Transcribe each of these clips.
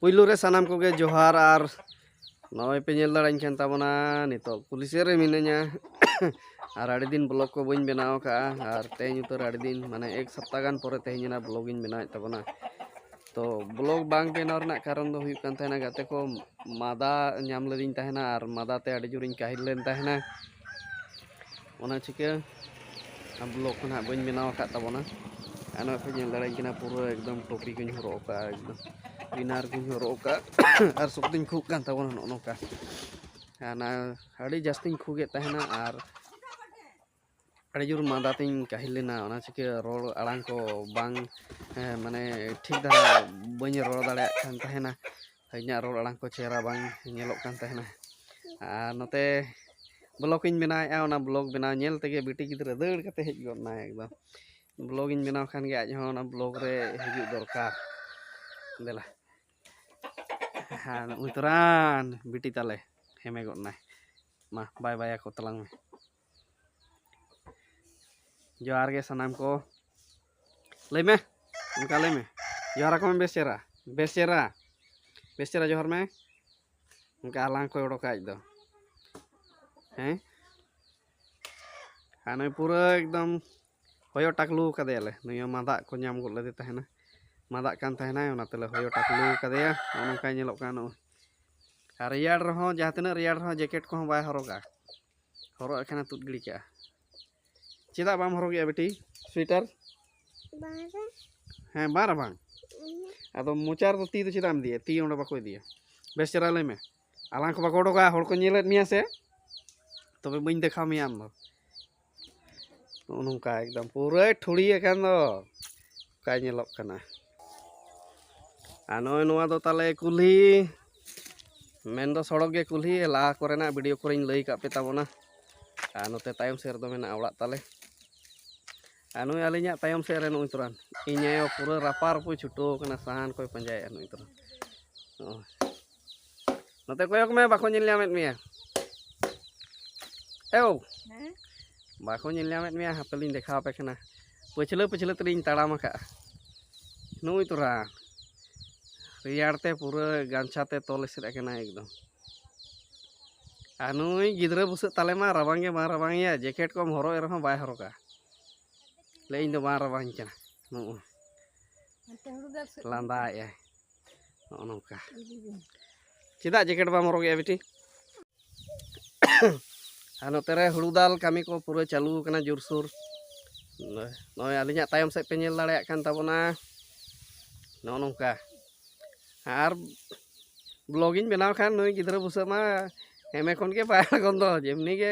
ᱯᱩᱭᱞᱩ ᱨᱮ ᱥᱟᱱᱟᱢ ᱠᱚᱜᱮ ᱡᱚᱦᱟᱨ ᱟᱨ ᱱᱚᱜᱼᱚᱭ ᱯᱮ ᱧᱮᱞ ᱫᱟᱲᱮᱧ ᱠᱟᱱ ᱛᱟᱵᱚᱱᱟ ᱱᱤᱛᱚᱜ ᱯᱩᱞᱤᱥᱮ ᱨᱮ ᱢᱤᱱᱟᱹᱧᱟ ᱟᱨ ᱟᱹᱰᱤ ᱫᱤᱱ ᱵᱞᱚᱜ ᱠᱚ ᱵᱟᱹᱧ ᱵᱮᱱᱟᱣ ᱟᱠᱟᱫᱼᱟ ᱟᱨ ᱛᱮᱦᱮᱧ ᱩᱛᱟᱹᱨ ᱟᱹᱰᱤ ᱫᱤᱱ ᱢᱟᱱᱮ ᱮᱠ ᱥᱚᱯᱛᱟ ᱜᱟᱱ ᱯᱚᱨᱮ ᱛᱮᱦᱮᱧ ᱚᱱᱟ ᱵᱞᱚᱜ ᱤᱧ ᱵᱮᱱᱟᱣᱮᱫ ᱛᱟᱵᱚᱱᱟ ᱛᱚ ᱵᱞᱚᱜ ᱵᱟᱝ ᱵᱮᱱᱟᱣ ᱨᱮᱱᱟᱜ ᱠᱟᱨᱚᱱ ᱫᱚ ᱦᱩᱭᱩᱜ ᱠᱟᱱ ᱛᱟᱦᱮᱱᱟ ᱜᱟᱛᱮ ᱠᱚ ᱢᱟᱫᱟ ᱧᱟᱢ ᱞᱮᱫᱤᱧ ᱛᱟᱦᱮᱱᱟ ᱟᱨ ᱢᱟᱫᱟ ᱛᱮ ᱟᱹᱰᱤ ᱡᱳᱨᱤᱧ ᱠᱟᱹᱦᱤᱞ ᱞᱮᱱ ᱛᱟᱦᱮᱱᱟ ᱚᱱᱟ ᱪᱤᱠᱟᱹ ᱵᱞᱚᱜ ᱠᱚ ᱱᱟᱦᱟᱜ ᱵᱟᱹᱧ ᱵᱮᱱᱟᱣ ᱟᱠᱟᱫ ᱛᱟᱵᱚᱱᱟ ᱟᱨ ᱱᱚᱜᱼᱚᱭ ᱯᱮ ᱧᱮᱞ ᱫᱟᱲᱮᱭᱟᱹᱧ ᱠᱟᱱᱟ ᱯᱩᱨᱟᱹ ᱮᱠᱫᱚᱢ ᱴᱚᱯᱤ ᱠᱚᱧ ᱦᱚᱨᱚᱜ ᱟᱠᱟᱫᱼᱟ ᱮᱠᱫᱚᱢ ᱯᱤᱱᱟᱨ ᱠᱚᱧ ᱦᱚᱨᱚᱜ ᱟᱠᱟᱫ ᱟᱨ ᱥᱚᱠᱛᱤᱧ ᱠᱷᱩᱜ ᱠᱟᱱ ᱛᱟᱵᱚᱱᱟ ᱱᱚᱜᱼᱚ ᱱᱚᱝᱠᱟ ᱚᱱᱟ ᱟᱹᱰᱤ ᱡᱟᱹᱥᱛᱤᱧ ᱠᱷᱩᱜᱮᱫ ᱛᱟᱦᱮᱱᱟ ᱟᱨ ᱟᱹᱰᱤ ᱡᱳᱨ ᱢᱟᱫᱟ ᱛᱤᱧ ᱠᱟᱹᱦᱤᱞ ᱞᱮᱱᱟ ᱚᱱᱟ ᱪᱤᱠᱟᱹ ᱨᱚᱲ ᱟᱲᱟᱝ ᱠᱚ ᱵᱟᱝ ᱢᱟᱱᱮ ᱴᱷᱤᱠ ᱫᱷᱟᱨᱟ ᱵᱟᱹᱧ ᱨᱚᱲ ᱫᱟᱲᱮᱭᱟᱜ ᱠᱟᱱ ᱛᱟᱦᱮᱱᱟ ᱤᱧᱟᱹᱜ ᱨᱚᱲ ᱟᱲᱟᱝ ᱠᱚ ᱪᱮᱦᱨᱟ ᱵᱟᱝ ᱧᱮᱞᱚᱜ ᱠᱟᱱ ᱛᱟᱦᱮᱱᱟ ᱟᱨ ᱱᱚᱛᱮ ᱵᱞᱚᱜᱽ ᱤᱧ ᱵᱮᱱᱟᱣᱮᱫᱼᱟ ᱚᱱᱟ ᱵᱞᱚᱜᱽ ᱵᱮᱱᱟᱣ ᱧᱮᱞ ᱛᱮᱜᱮ ᱵᱤᱴᱤ ᱜᱤᱫᱽᱨᱟᱹ ᱫᱟᱹᱲ ᱠᱟᱛᱮ ᱦᱮᱡ ᱜᱚᱫ ᱮᱱᱟᱭ ᱮᱠᱫᱚᱢ ᱵᱞᱚᱜᱽ ᱤᱧ ᱵᱮᱱᱟᱣ ᱠᱷᱟᱱ ᱜᱮ ᱟᱡ ᱦᱚᱸ ᱚᱱᱟ ᱵᱞᱚᱜᱽ ᱨᱮ ᱦᱤᱡᱩᱜ ᱫᱚᱨᱠᱟᱨ ᱫᱮᱞᱟ ᱦᱮᱸ ᱩᱛᱨᱟᱱ ᱵᱤᱴᱤ ᱛᱟᱞᱮ ᱦᱮᱢᱮ ᱜᱚᱫ ᱮᱱᱟᱭ ᱢᱟ ᱵᱟᱭ ᱵᱟᱭ ᱟᱠᱚ ᱛᱟᱞᱟᱝ ᱢᱮ ᱡᱚᱦᱟᱨ ᱜᱮ ᱥᱟᱱᱟᱢ ᱠᱚ ᱞᱟᱹᱭ ᱢᱮ ᱚᱱᱠᱟ ᱞᱟᱹᱭ ᱢᱮ ᱡᱚᱦᱟᱨ ᱟᱠᱚ ᱢᱮ ᱵᱮᱥ ᱪᱮᱦᱨᱟ ᱵᱮᱥ ᱪᱮᱦᱨᱟ ᱵᱮᱥ ᱪᱮᱦᱨᱟ ᱡᱚᱦᱟᱨ ᱢᱮ ᱚᱱᱠᱟ ᱟᱞᱟᱝ ᱠᱚᱭ ᱚᱰᱚᱠᱟ ᱟᱡ ᱫᱚ ᱦᱮᱸ ᱟᱨ ᱱᱩᱭ ᱯᱩᱨᱟᱹ ᱮᱠᱫᱚᱢ ᱦᱚᱭᱚ ᱴᱟᱠᱞᱩ ᱠᱟᱫᱮᱭᱟᱞᱮ ᱱᱩᱭ ᱦᱚᱸ ᱢᱟᱫᱟᱜ ᱠᱚ ᱧᱟᱢ ᱜᱚᱫ ᱞᱮᱫᱮ ᱛᱟᱦᱮᱱᱟ ᱢᱟᱫᱟᱜ ᱠᱟᱱ ᱛᱟᱦᱮᱱᱟᱭ ᱚᱱᱟ ᱛᱮᱞᱮ ᱦᱚᱭᱚ ᱴᱟᱠᱞᱩ ᱠᱟᱫᱮᱭᱟ ᱱᱚᱜᱼᱚ ᱱᱚᱝᱠᱟᱭ ᱧᱮᱞᱚᱜ ᱠᱟᱱᱟ ᱱᱚᱜᱼᱚᱭ ᱟᱨ ᱨᱮᱭᱟᱲ ᱨᱮᱦᱚᱸ ᱡᱟᱦᱟᱸ ᱛᱤᱱᱟᱹᱜ ᱨᱮᱭᱟᱲ ᱨᱮᱦᱚᱸ ᱡᱮᱠᱮᱴ ᱠᱚᱦᱚᱸ ᱵᱟᱭ ᱦᱚᱨᱚᱜᱟ ᱦᱚᱨᱚᱜ ᱮᱠᱷᱟᱱᱮ ᱛᱩᱫ ᱜᱤᱲᱤ ᱠᱟᱜᱼᱟ ᱪᱮᱫᱟᱜ ᱵᱟᱢ ᱦᱚᱨᱚᱜᱮᱜᱼᱟ ᱵᱤᱴᱤ ᱥᱩᱭᱮᱴᱟᱨ ᱦᱮᱸ ᱵᱟᱝ ᱨᱟᱵᱟᱝ ᱟᱫᱚ ᱢᱚᱪᱟ ᱨᱮᱫᱚ ᱛᱤ ᱫᱚ ᱪᱮᱫᱟᱜ ᱮᱢ ᱤᱫᱤᱭᱟ ᱛᱤ ᱚᱸᱰᱮ ᱵᱟᱠᱚ ᱤᱫᱤᱭᱟ ᱵᱮᱥ ᱪᱮᱦᱨᱟ ᱞᱟᱹᱭ ᱢᱮ ᱟᱞᱟᱝ ᱠᱚ ᱵᱟᱠᱚ ᱚᱰᱚᱠᱟ ᱦᱚᱲ ᱠᱚ ᱧᱮᱞᱮᱫ ᱢᱮᱭᱟ ᱥᱮ ᱛᱚᱵᱮ ᱵᱟᱹᱧ ᱫᱮᱠᱷᱟᱣ ᱢᱮᱭᱟ ᱟᱢ ᱫᱚ ᱱᱚᱜᱼᱚ ᱱᱚᱝᱠᱟ ᱮᱠᱫᱚᱢ ᱯᱩᱨᱟᱹᱭ ᱴᱷᱩᱲᱤ ᱟᱠᱟᱱ ᱫᱚ ᱚᱠᱟᱭ ᱧᱮᱞᱚᱜ ᱠᱟᱱᱟ ᱟᱨ ᱱᱚᱜᱼᱚᱭ ᱱᱚᱣᱟ ᱫᱚ ᱛᱟᱞᱮ ᱠᱩᱞᱦᱤ ᱢᱮᱱ ᱫᱚ ᱥᱚᱲᱚᱠ ᱜᱮ ᱠᱩᱞᱦᱤ ᱞᱟᱦᱟ ᱠᱚᱨᱮᱱᱟᱜ ᱵᱷᱤᱰᱤᱭᱳ ᱠᱚᱨᱮᱧ ᱞᱟᱹᱭ ᱠᱟᱜ ᱯᱮ ᱛᱟᱵᱚᱱᱟ ᱟᱨ ᱱᱚᱛᱮ ᱛᱟᱭᱚᱢ ᱥᱮᱫ ᱨᱮᱫᱚ ᱢᱮᱱᱟᱜᱼᱟ ᱚᱲᱟᱜ ᱛᱟᱞᱮ ᱟᱨ ᱱᱩᱭ ᱟᱹᱞᱤᱧᱟᱜ ᱛᱟᱭᱚᱢ ᱥᱮᱫ ᱨᱮ ᱱᱩᱭ ᱛᱚᱨᱟᱱ ᱤᱧ ᱟᱭᱳ ᱯᱩᱨᱟᱹ ᱨᱟᱯᱟ ᱨᱟᱹᱯᱩᱭ ᱪᱷᱩᱴᱟᱹᱣ ᱠᱟᱱᱟ ᱥᱟᱦᱟᱱ ᱠᱚᱭ ᱯᱟᱸᱡᱟᱭᱮᱫᱼᱟ ᱱᱩᱭ ᱛᱚᱨᱟᱱ ᱱᱚᱜᱼᱚᱭ ᱱᱚᱛᱮ ᱠᱚᱭᱚᱜ ᱢᱮ ᱵᱟᱠᱚ ᱧᱮᱞ ᱧᱟᱢᱮᱫ ᱢᱮᱭᱟ ᱮᱣ ᱵᱟᱠᱚ ᱧᱮᱞ ᱧᱟᱢᱮᱫ ᱢᱮᱭᱟ ᱦᱟᱯᱮ ᱞᱤᱧ ᱫᱮᱠᱷᱟᱣ ᱟᱯᱮ ᱠᱟᱱᱟ ᱯᱟᱹᱪᱷᱞᱟᱹ ᱯᱟᱹᱪᱷᱞᱟᱹ ᱛᱮᱞᱤᱧ ᱛᱟᱲᱟᱢ ᱟᱠᱟᱫᱼᱟ ᱱᱩᱭ ᱛᱚᱨᱟ ᱨᱮᱭᱟᱲ ᱛᱮ ᱯᱩᱨᱟᱹ ᱜᱟᱢᱪᱷᱟ ᱛᱮ ᱛᱚᱞ ᱮᱥᱮᱫ ᱟᱠᱟᱱᱟ ᱮᱠᱫᱚᱢ ᱟᱨ ᱱᱩᱭ ᱜᱤᱫᱽᱨᱟᱹ ᱵᱩᱥᱟᱹᱜ ᱛᱟᱞᱮ ᱢᱟ ᱨᱟᱵᱟᱝ ᱜᱮ ᱵᱟᱝ ᱨᱟᱵᱟᱝ ᱮᱭᱟ ᱡᱮᱠᱮᱴ ᱠᱚᱢ ᱦᱚᱨᱚᱜ ᱮ ᱨᱮᱦᱚᱸ ᱵᱟᱭ ᱦᱚᱨᱚᱜᱟ ᱞᱟᱹᱭ ᱤᱧ ᱫᱚ ᱵᱟᱝ ᱨᱟᱵᱟᱝ ᱠᱟᱱᱟ ᱱᱩᱜᱼᱩ ᱞᱟᱸᱫᱟᱭᱮᱫᱼᱟᱭ ᱱᱚᱜᱼᱚ ᱱᱚᱝᱠᱟ ᱪᱮᱫᱟᱜ ᱡᱮᱠᱮᱴ ᱵᱟᱢ ᱦᱚᱨᱚᱜᱮᱜᱼᱟ ᱵᱤᱴᱤ ᱟᱨ ᱱᱚᱛᱮ ᱨᱮ ᱦᱩᱲᱩ ᱫᱟᱞ ᱠᱟᱹᱢᱤ ᱠᱚ ᱯᱩᱨᱟᱹ ᱪᱟᱹᱞᱩ ᱟᱠᱟᱱᱟ ᱡᱳᱨᱥᱳᱨ ᱱᱚᱜᱼᱚᱭ ᱟᱹᱞᱤᱧᱟᱜ ᱛᱟᱭᱚᱢ ᱥᱮᱫ ᱯᱮ ᱧᱮᱞ ᱫᱟᱲᱮᱭᱟᱜ ᱠᱟᱱ ᱛᱟᱵᱚᱱᱟ ᱱᱚᱜᱼᱚ ᱱᱚᱝᱠᱟ ᱟᱨ ᱵᱞᱚᱜᱤᱧ ᱵᱮᱱᱟᱣ ᱠᱷᱟᱱ ᱱᱩᱭ ᱜᱤᱫᱽᱨᱟᱹ ᱵᱩᱥᱟᱹᱜ ᱢᱟ ᱮᱢᱮ ᱠᱷᱚᱱ ᱜᱮ ᱵᱟᱭ ᱟᱬᱜᱚᱱ ᱫᱚ ᱡᱮᱢᱱᱤ ᱜᱮ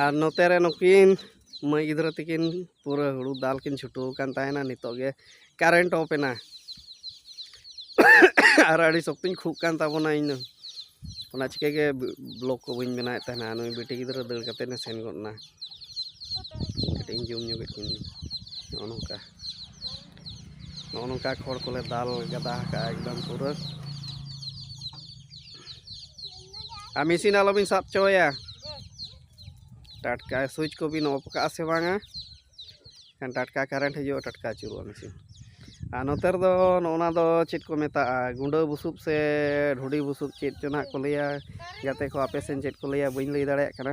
ᱟᱨ ᱱᱚᱛᱮ ᱨᱮ ᱱᱩᱠᱤᱱ ᱢᱟᱹᱭ ᱜᱤᱫᱽᱨᱟᱹ ᱛᱟᱹᱠᱤᱱ ᱯᱩᱨᱟᱹ ᱦᱩᱲᱩ ᱫᱟᱞ ᱠᱤᱱ ᱪᱷᱩᱴᱟᱹᱣ ᱟᱠᱟᱱ ᱛᱟᱦᱮᱱᱟ ᱱᱤᱛᱚᱜ ᱜᱮ ᱠᱟᱨᱮᱱᱴ ᱚᱯᱷ ᱮᱱᱟ ᱟᱨ ᱟᱹᱰᱤ ᱥᱚᱠᱛᱚᱧ ᱠᱷᱩᱜ ᱠᱟᱱ ᱛᱟᱵᱚᱱᱟ ᱤᱧ ᱫᱚ ᱚᱱᱟ ᱪᱤᱠᱟᱹ ᱜᱮ ᱵᱞᱚᱜᱽ ᱠᱚ ᱵᱟᱹᱧ ᱵᱮᱱᱟᱣᱮᱫ ᱛᱟᱦᱮᱱᱟ ᱱᱩᱭ ᱵᱤᱴᱤ ᱜᱤᱫᱽᱨᱟᱹ ᱫᱟᱹᱲ ᱠᱟᱛᱮᱫ ᱮ ᱥᱮᱱ ᱜᱚᱫ ᱮᱱᱟ ᱠᱟᱹᱴᱤᱡ ᱤᱧ ᱡᱚᱢ ᱧᱚᱜᱮᱫ ᱠᱤᱱ ᱜᱮ ᱱᱚᱜᱼᱚ ᱱᱚᱝᱠᱟ ᱱᱚᱜᱼᱚ ᱱᱚᱝᱠᱟ ᱠᱷᱚᱲ ᱠᱚᱞᱮ ᱫᱟᱞ ᱜᱟᱫᱟ ᱟᱠᱟᱫᱼᱟ ᱮᱠᱫᱚᱢ ᱯᱩᱨᱟᱹ ᱟᱨ ᱢᱮᱥᱤᱱ ᱟᱞᱚᱵᱤᱱ ᱥᱟᱵ ᱦᱚᱪᱚᱭᱟ ᱴᱟᱴᱠᱟ ᱥᱩᱭᱤᱪ ᱠᱚᱵᱤᱱ ᱚᱯᱷ ᱠᱟᱜᱼᱟ ᱥᱮ ᱵᱟᱝᱟ ᱮᱱᱠᱷᱟᱱ ᱴᱟᱴᱠᱟ ᱠᱟᱨᱮᱱᱴ ᱦᱤᱡᱩᱜᱼᱟ ᱴᱟᱴᱠᱟ ᱟᱹᱪᱩᱨᱚᱜᱼᱟ ᱢᱮᱥᱤᱱ ᱟᱨ ᱱᱚᱛᱮ ᱨᱮᱫᱚ ᱱᱚᱜᱼᱚᱱᱟ ᱫᱚ ᱪᱮᱫ ᱠᱚ ᱢᱮᱛᱟᱜᱼᱟ ᱜᱩᱸᱰᱟᱹ ᱵᱩᱥᱩᱵ ᱥᱮ ᱰᱷᱩᱰᱤ ᱵᱩᱥᱩᱵ ᱪᱮᱫ ᱪᱚ ᱱᱟᱦᱟᱜ ᱠᱚ ᱞᱟᱹᱭᱟ ᱜᱟᱛᱮ ᱠᱚ ᱟᱯᱮ ᱥᱮᱱ ᱪᱮᱫ ᱠᱚ ᱞᱟᱹᱭᱟ ᱵᱟᱹᱧ ᱞᱟᱹᱭ ᱫᱟᱲᱮᱭᱟᱜ ᱠᱟᱱᱟ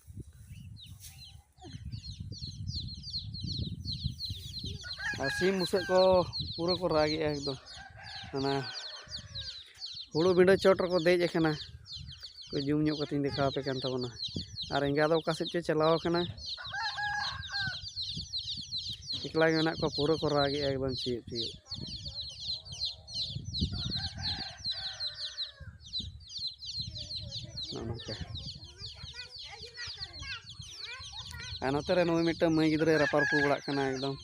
ᱟᱨ ᱥᱤᱢ ᱵᱩᱥᱟᱹᱜ ᱠᱚ ᱯᱩᱨᱟᱹ ᱠᱚ ᱨᱟᱜᱮᱜᱼᱟ ᱮᱠᱫᱚᱢ ᱚᱱᱟ ᱦᱩᱲᱩ ᱵᱤᱸᱰᱟᱹ ᱪᱚᱴ ᱨᱮᱠᱚ ᱫᱮᱡ ᱟᱠᱟᱱᱟ ᱠᱚ ᱡᱩᱢ ᱧᱚᱜ ᱠᱟᱛᱮᱧ ᱫᱮᱠᱷᱟᱣ ᱟᱯᱮ ᱠᱟᱱ ᱛᱟᱵᱚᱱᱟ ᱟᱨ ᱮᱸᱜᱟ ᱫᱚ ᱚᱠᱟ ᱥᱮᱫ ᱪᱚ ᱪᱟᱞᱟᱣ ᱟᱠᱟᱱᱟ ᱮᱠᱞᱟ ᱜᱮ ᱢᱮᱱᱟᱜ ᱠᱚᱣᱟ ᱯᱩᱨᱟᱹ ᱠᱚ ᱨᱟᱜᱮᱜᱼᱟ ᱮᱠᱫᱚᱢ ᱪᱤᱭᱚᱜ ᱪᱤᱭᱚᱜ ᱱᱚᱜᱼᱚ ᱱᱚᱝᱠᱟ ᱟᱨ ᱱᱚᱛᱮ ᱨᱮ ᱱᱩᱭ ᱢᱤᱫᱴᱟᱝ ᱢᱟᱹᱭ ᱜᱤᱫᱽᱨᱟᱹᱭ ᱨᱟᱯᱟᱨ ᱯᱩ ᱵᱟᱲᱟᱜ ᱠᱟᱱᱟ ᱮᱠᱫᱚᱢ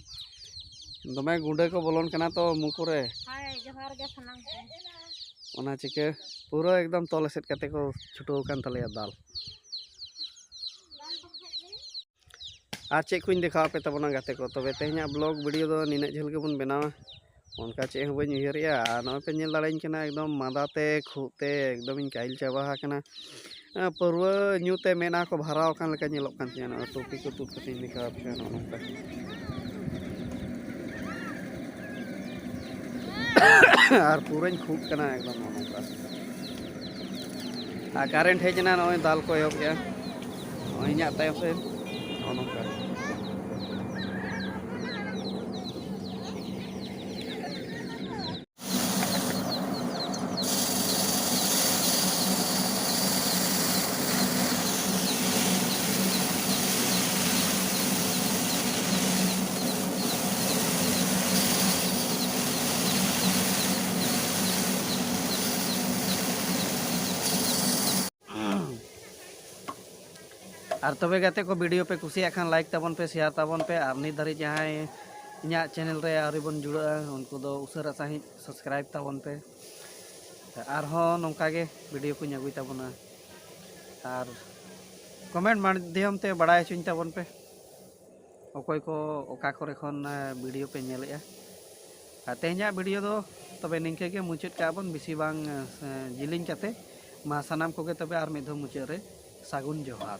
ᱫᱚᱢᱮ ᱜᱩᱸᱰᱟᱹ ᱠᱚ ᱵᱚᱞᱚᱱ ᱠᱟᱱᱟ ᱛᱚ ᱢᱩ ᱠᱚᱨᱮ ᱡᱚᱦᱟᱨ ᱜᱮ ᱥᱟᱱᱟᱢ ᱠᱚ ᱚᱱᱟ ᱪᱤᱠᱟᱹ ᱯᱩᱨᱟᱹ ᱮᱠᱫᱚᱢ ᱛᱚᱞ ᱮᱥᱮᱫ ᱠᱟᱛᱮ ᱠᱚ ᱪᱷᱩᱴᱟᱹᱣ ᱟᱠᱟᱱ ᱛᱟᱞᱮᱭᱟ ᱫᱟᱞ ᱟᱨ ᱪᱮᱫ ᱠᱚᱧ ᱫᱮᱠᱷᱟᱣ ᱟᱯᱮ ᱛᱟᱵᱚᱱᱟ ᱜᱟᱛᱮ ᱠᱚ ᱛᱚᱵᱮ ᱛᱮᱦᱮᱧᱟᱜ ᱵᱞᱚᱜᱽ ᱵᱷᱤᱰᱭᱳ ᱫᱚ ᱱᱤᱱᱟᱹᱜ ᱡᱷᱟᱹᱞ ᱜᱮᱵᱚᱱ ᱵᱮᱱᱟᱣᱟ ᱚᱱᱠᱟ ᱪᱮᱫ ᱦᱚᱸ ᱵᱟᱹᱧ ᱩᱭᱦᱟᱹᱨᱮᱜᱼᱟ ᱟᱨ ᱱᱚᱜᱼᱚᱭ ᱯᱮ ᱧᱮᱞ ᱫᱟᱲᱮᱭᱟᱹᱧ ᱠᱟᱱᱟ ᱮᱠᱫᱚᱢ ᱢᱟᱸᱫᱟ ᱛᱮ ᱠᱷᱩᱜ ᱛᱮ ᱮᱠᱫᱚᱢᱤᱧ ᱠᱟᱹᱦᱤᱞ ᱪᱟᱵᱟ ᱟᱠᱟᱱᱟ ᱯᱟᱹᱨᱣᱟᱹ ᱧᱩ ᱛᱮ ᱢᱮᱫᱦᱟ ᱠᱚ ᱵᱷᱟᱨᱟᱣ ᱟᱠᱟᱱ ᱞᱮᱠᱟ ᱧᱮᱞᱚᱜ ᱠᱟᱱ ᱛᱤᱧᱟᱹ ᱱᱚᱜᱼᱚᱭ ᱴᱩᱯᱤ ᱠᱚ ᱛᱩᱫ ᱠᱟᱛᱮᱧ ᱫᱮᱠᱷᱟᱣ ᱟᱯᱮ ᱠᱟᱱᱟ ᱱᱚᱜᱼᱚ ᱱᱚᱝᱠᱟ ᱟᱨ ᱯᱩᱨᱟᱹᱧ ᱠᱷᱩᱜ ᱠᱟᱱᱟ ᱮᱠᱫᱚᱢ ᱱᱚᱝᱠᱟ ᱟᱨ ᱠᱟᱨᱮᱱᱴ ᱦᱮᱡ ᱮᱱᱟ ᱱᱚᱜᱼᱚᱭ ᱫᱟᱞ ᱠᱚ ᱮᱦᱚᱵ ᱠᱮᱜᱼᱟ ᱱᱚᱜᱼᱚᱭ ᱤᱧᱟᱹᱜ ᱛᱟᱭᱚᱢ ᱥᱮᱫ ᱱᱚᱜᱼᱚ ᱱᱚᱝᱠᱟ ᱟᱨ ᱛᱚᱵᱮ ᱜᱟᱛᱮ ᱠᱚ ᱵᱷᱤᱰᱤᱭᱳ ᱯᱮ ᱠᱩᱥᱤᱭᱟᱜ ᱠᱷᱟᱱ ᱞᱟᱭᱤᱠ ᱛᱟᱵᱚᱱ ᱯᱮ ᱥᱮᱭᱟᱨ ᱛᱟᱵᱚᱱ ᱯᱮ ᱟᱨ ᱱᱤᱛ ᱫᱷᱟᱹᱨᱤᱡ ᱡᱟᱦᱟᱸᱭ ᱤᱧᱟᱹᱜ ᱪᱮᱱᱮᱞ ᱨᱮ ᱟᱹᱣᱨᱤ ᱵᱚᱱ ᱡᱩᱲᱟᱹᱜᱼᱟ ᱩᱱᱠᱩ ᱫᱚ ᱩᱥᱟᱹᱨᱟ ᱥᱟᱺᱦᱤᱡ ᱥᱟᱵᱥᱠᱨᱟᱭᱤᱵ ᱛᱟᱵᱚᱱ ᱯᱮ ᱟᱨᱦᱚᱸ ᱱᱚᱝᱠᱟ ᱜᱮ ᱵᱷᱤᱰᱤᱭᱳ ᱠᱚᱧ ᱟᱹᱜᱩᱭ ᱛᱟᱵᱚᱱᱟ ᱟᱨ ᱠᱚᱢᱮᱱᱴ ᱢᱟᱫᱽᱫᱷᱚᱢ ᱛᱮ ᱵᱟᱲᱟᱭ ᱦᱚᱪᱚᱧ ᱛᱟᱵᱚᱱ ᱯᱮ ᱚᱠᱚᱭ ᱠᱚ ᱚᱠᱟ ᱠᱚᱨᱮ ᱠᱷᱚᱱ ᱵᱷᱤᱰᱤᱭᱳ ᱯᱮ ᱧᱮᱞᱮᱜᱼᱟ ᱟᱨ ᱛᱮᱦᱮᱧᱟᱜ ᱵᱷᱤᱰᱤᱭᱳ ᱫᱚ ᱛᱚᱵᱮ ᱱᱤᱝᱠᱟᱹ ᱜᱮ ᱢᱩᱪᱟᱹᱫ ᱠᱟᱜᱼᱟ ᱵᱚᱱ ᱵᱮᱥᱤ ᱵᱟᱝ ᱡᱤᱞᱤᱧ ᱠᱟᱛᱮ ᱢᱟ ᱥᱟᱱᱟᱢ ᱠᱚᱜᱮ ᱛᱚᱵᱮ ᱟᱨ ᱢᱤᱫ ᱫᱷᱟᱣ ᱢᱩᱪᱟᱹᱫ ᱨᱮ ᱥᱟᱹᱜᱩᱱ ᱡᱚᱦᱟᱨ